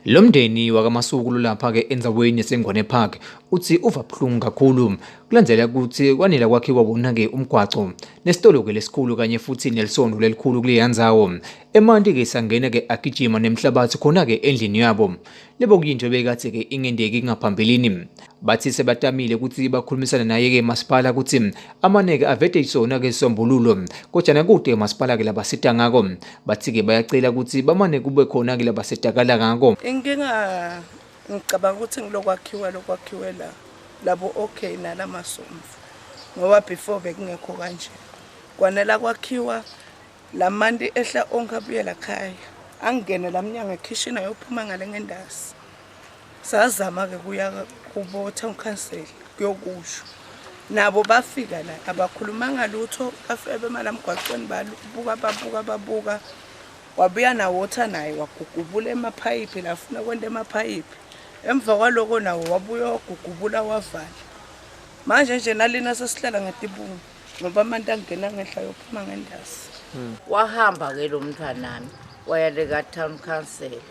Lo mndeni wakaMasuku lolapha-ke endzaweni yaseNgwane Park uthi uva buhlungu kakhulu kulandela ukuthi kwanela kwakhiwa wona-ke umgwaco nesitolo-ke lesikhulu kanye futhi nelisondo lelikhulu kuleya ndzawo emanti-ke sangena-ke agijima nemhlabathi khona-ke endlini yabo lebo kuyinto ebekade-ke ingendeki ngaphambilini bathi sebatamile ukuthi bakhulumisane naye-ke masipala ukuthi amaneke avete isona-ke isombululo kodwa nakude masipala-ke labasita ngako bathi-ke bayacela ukuthi bamane kube khona-ke labasetakala ngako inkinga ngicabanga ukuthi ngilokwakhiwa lokwakhiwe la labo okay nala masomfu ngoba before bekungekho kanje kwanela kwakhiwa la manti ehla onke abuyela khaya angingene la mnyango ekhishini ayophuma ngale ngendasi sazama ke kuya kubotha ukhansela kuyokusho nabo bafika la abakhulumanga lutho bafike bemala mgwaqweni babuka babuka babuka wabuya nawotha naye wagugubula emaphayiphi lafuna kwenta emaphayiphi emva kwaloko nawo wabuya wagugubula wavala manje nje nalina sesihlala ngetibungu ngoba amanti angena ngenhla yophuma ngendazi hmm. wahamba ke lo mntwanami wayaleka town council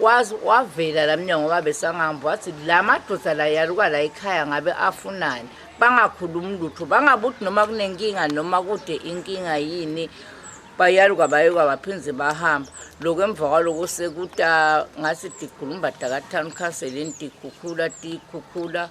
Wazi wavela la mnyango babesangamba wathi la madoda la yaluka la ekhaya ngabe afunani bangakhulumi lutho bangabuthi noma kunenkinga noma kude inkinga yini bayaluka bayuka baphinde bahamba lokho emva kwaloko sekuta ngathi digulumbada ka-town council intikhukhula tikhukhula